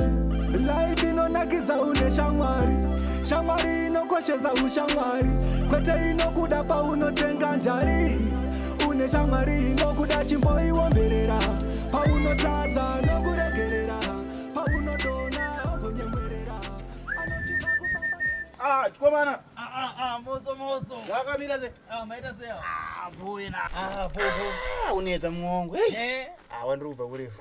Life inonakidza une shamwari shamwari inokoshesa ushamwari kwete inokuda paunotenga njari une shamwari inokuda chimboiwomberera paunotadza nokuregerera paunodona ambonyemwerera anotiza kufamba Ah, chikomana. Ah, ah, ah, moso moso. Wakamira se. Ah, maita se. Ah, boy na. Ah, boy boy. Ah, unetsa muongo. Hey. Eh. Ah, wandiri kubva kurefu.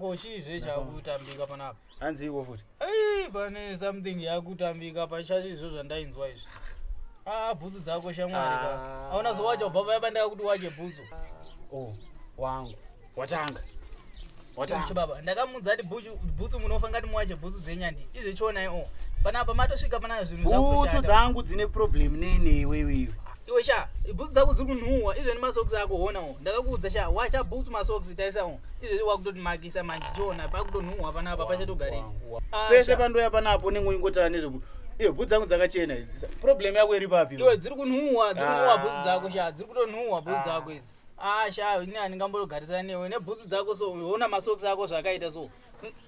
Ko chii zve chakutambika panapa? Hanzi iko futi. Hey, pane something yakutambika pachacho izvo zvandainzwa izvi. Ah, bhutsu dzako shamwari ka. Ah. Hauna zowacha ubva paya pandaka kuti wache bhutsu. Oh, wangu. Watanga. Watanga. Chibaba, ndakamudza ati bhutsu munofa ngati muwache bhutsu dzenyandi. Izvi chionai oh. Panapa matosvika pana zvinhu zvako. Bhutsu dzangu dzine problem nene wewe iwe. Iwe sha, bhutsu dzako dziri kunhuwa, izvo ne masocks ako hona oh. Ndakakuudza sha, wacha bhutsu masocks taisa oh. izvezvi wakutoti makisa manje chiona pakutonhuhwa panapa pachatogarei pese pandoya panapo unenge uingotara nezveku iyo bhutsu dzangu dzakachena idzi problem yako iri papi iwe dziri kunhuhwa dziri kunhuhwa bhutsu dzako sha dziri kutonhuhwa bhutsu dzako idzi ah sha ini handingambotogarisana newe nebhutsu dzako so ona masokisi ako zvakaita so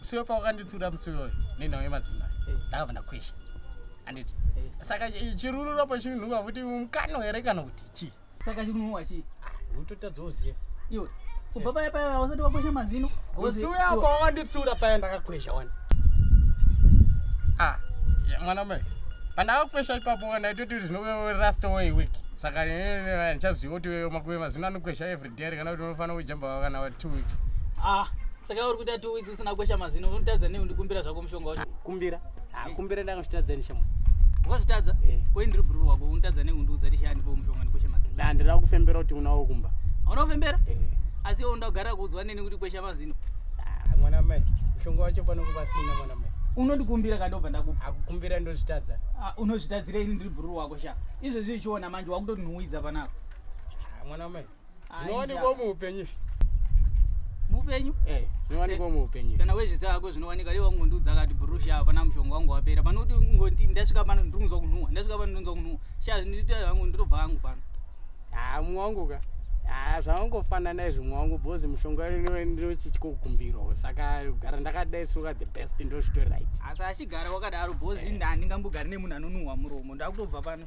siwe pawakanditsura musi uyoyo nenhau yemazimai eh. ndakabva ndakwesha anditi eh. saka chirurura pachinhuwa kuti mukano here kana kuti chii saka chinhuwa chii ah, utotadzawo ziva iwe kubva paya paya usati wakwesha mazino musi uyo apa wawanditsura paya ndakakwesha wani ah, mwana mai pandakakwesha ipapo ndaitoti zvinorasta way week saka ndichaziva kuti makuve mazino anokwesha every Dare kana kuti unofanira kujamba wakana wa 2 weeks. Ah, saka uri kuita 2 weeks usina kwesha mazino unotadza nei undikumbira zvako mushonga wacho. Kumbira? Ah, kumbira ndakazvitadza ni shamo. Wakazvitadza? Eh. Ko indiri bro wako unotadza nei undiudza tishi andipo mushonga ndikwesha mazino. Da ndira kufembera kuti unawo kumba. Unawo fembera? Eh. Asi wewe undagara kuudzwa neni kuti kwesha mazino. Ah, mwana mai, mushonga wacho pano kuba sina mwana mai. unondikumbira ka ndobva ndakupa akukumbira ndozvitadza ah, unozvitadzira ini ndiri bhururu wako sha izvezvi uchiona manje wakutotinhuwidza panapa Ah, mwana mai Ah, zvinowanikwa injava. muupenyu izvi. mupenyu Eh, zvinowanikwa muupenyu izvi. kana wezviziva hako zvinowanika leo wangondiudza akati bhurushi apa na mushonga wangu wapera pano kuti ungoti ndasvika pano ndiri kunzwa kunhuwa ndasvika pano ndonzwa kunhuwa sha ndinoita hangu ndinotobva hangu pano Ah, mumwe wangu ka Ah, zvawangofanana izvi mumwe wangu bhozi mushonga ino ndochitya kukumbirwa saka kugara ndakadai suka the best ndozvitori right asi achigara wakadaro bhozi nda handingambogari nemunhu anonhuhwa muromo ndakutobva pano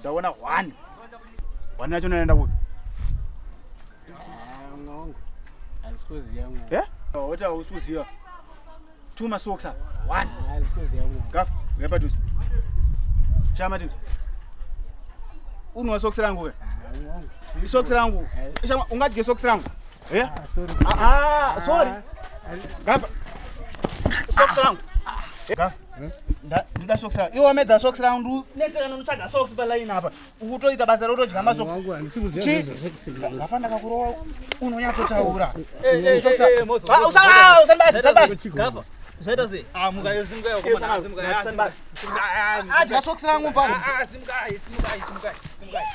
ndaona hwani hwani yacho naenda kupi oti hausi kuziva two masoksa one gafu ngapadhuze chama tindi unwa sokisi rangu ke isokisi rangu ungadye sokisi rangu sorry gafa sokisi rangu gafa hmm? ndoda socks rangu iwe wamedza socks rangu ndunetseka ndonotsvaga socks palaini apa ukutoita basa rotodyga masoksgafa ndakakurowa unonyatsotaura zvaita sei ah muka yo simuka yo koma na simuka ya simuka adya socks rangu pano ah simuka simuka simuka simuka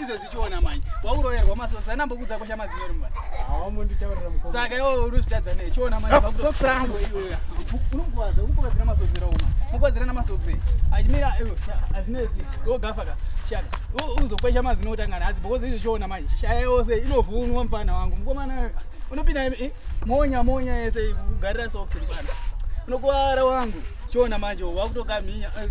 izvo zvichiona manje wauroverwa masodzi anambokudza kosha mazino rimba saka iwo uruzvitadza ne chiona manjeokirangu unokuvadza ukuvadzira masodzi rauma mukuvadzira namasodzi achimira azvinetsi ogafa ka shaka uzokwesha mazino otangana hadzi because izvo chiona manje shaya yose inovhunwa mfana wangu mukomana unopinda monya monya yese kugarira soksi ripanda unokuvara wangu chiona manje wakutokamhinya eh,